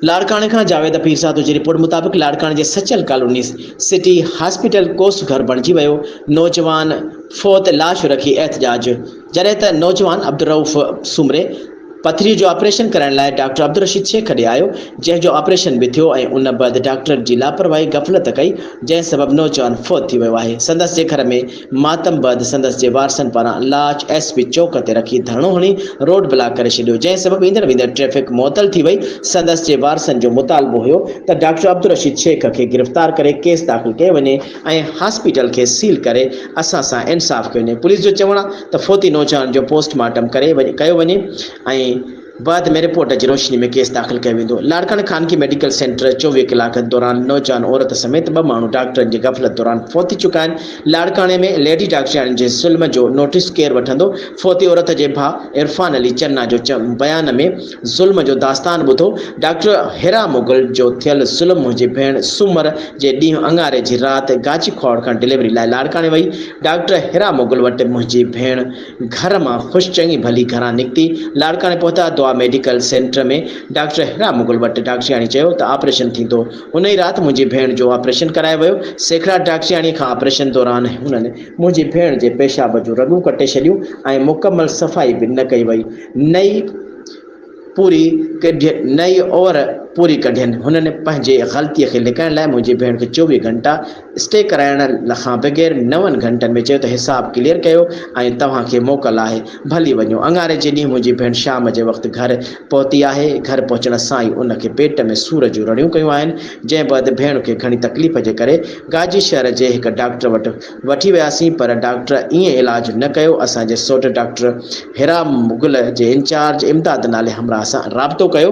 لاڙڪاڻي کان جاويد پيرزادو جي رپورٽ مطابق لاڙڪاڻي جي سچل ڪالوني سٽي هاسپيٽل ڪوس گهر بڻجي ويو، نوجوان فوت لاش رکي احتجاج، جڏهن ته نوجوان عبدالرئوف سومري پٿريء جو آپريشن ڪرائڻ لاء ڊاڪٽر عبدالرشيد شيخ ڏي آيو، جنهن جو آپريشن به ٿيو ۽ ان بعد ڊاڪٽرن جي لاپرواهي غفلت ڪئي، جنهن سبب نوجوان فوت ٿي ويو آهي، سندس جي گهر ۾ ماتم بعد سندس جي وارثن پاران لاش ايس پي چوڪ تي رکي ڌرڻو هڻي روڊ بلاڪ ڪري ڇڏيو جنهن سبب ايندڙ ويندڙ ٽريفڪ معطل ٿي وئي سندس جي وارثن جو مطالبو هيو ته ڊاڪٽر عبدالرشيد شيخ کي گرفتار ڪري ڪيس داخل ڪيو وڃي ۽ هاسپيٽل کي سيل ڪري اسان سان انصاف ڪيو وڃي پوليس جو چوڻ آ ته فوتي نوجوان جو پوسٽ مارٽم ڪري ڪيو وڃي ۽ بعد ۾ رپورٽ جي روشني ۾ ڪيس داخل ڪيو ويندو. لاڙڪاڻي خانگي ميڊيڪل سينٽر چوويهه ڪلاڪن دوران نوجوان عورت سميت ٻه ماڻهو ڊاڪٽرن جي غفلت دوران فوت ٿي چڪا آهن، لاڙڪاڻي ۾ ليڊي ڊاڪٽرياڻين جي ظلم جو نوٽيس ڪير وٺندو، فوتي عورت جي ڀاء عرفان علي چنا جو بيان ۾ ظلم جو داستان ٻڌو، ڊاڪٽر حرا مغل جو ٿيل ظلم منهنجي ڀيڻ سومر جي ڏينهن اڱاري جي رات گاچي کهاوڙ کان ڊليوري لاء لاڙڪاڻي وئي، ڊاڪٽر حرا مغل وٽ منهنجي ڀيڻ. گهر مان خوش چڱي ڀلي گهران نڪتي لاڙڪاڻي پهتا، Dua medical centre ۾ doctor Hira Mughal وٽ ڊاڪٽرياڻي چيو ته آپريشن ٿيندو، ان ئي رات منهنجي ڀيڻ جو آپريشن ڪرايو ويو، سيکڙاٽ ڊاڪٽرياڻي کان آپريشن دوران هنن منهنجي ڀيڻ جي پيشاب جون رڳون ڪٽي ڇڏيون ۽ مڪمل صفائي به نه ڪئي وئي نه ئي پوري ڪڍي نئي اوور پوري ڪڍين هنن پنهنجي غلطي کي لڪائڻ لاء منهنجي ڀيڻ کي چوويهه گهنٽا اسٽي ڪرائڻ کان بغير نون گهنٽن ۾ چيو ته حساب ڪليئر ڪيو ۽ توهان کي موڪل آهي ڀلي وڃو اڱاري جي ڏينهن منهنجي ڀيڻ شام جي وقت گهر پهتي آهي گهر پهچڻ سان ئي ان کي پيٽ ۾ سور جون رڙيون ڪيون آهن جنهن بعد ڀيڻ کي گهڻي تڪليف جي ڪري گاجي شهر جي هڪ ڊاڪٽر وٽ وٺي وياسين پر ڊاڪٽر ائين علاج نه ڪيو اسان جي سوٽ ڊاڪٽر حرا مغل جي انچارج امداد نالي همراهه سان رابطو ڪيو.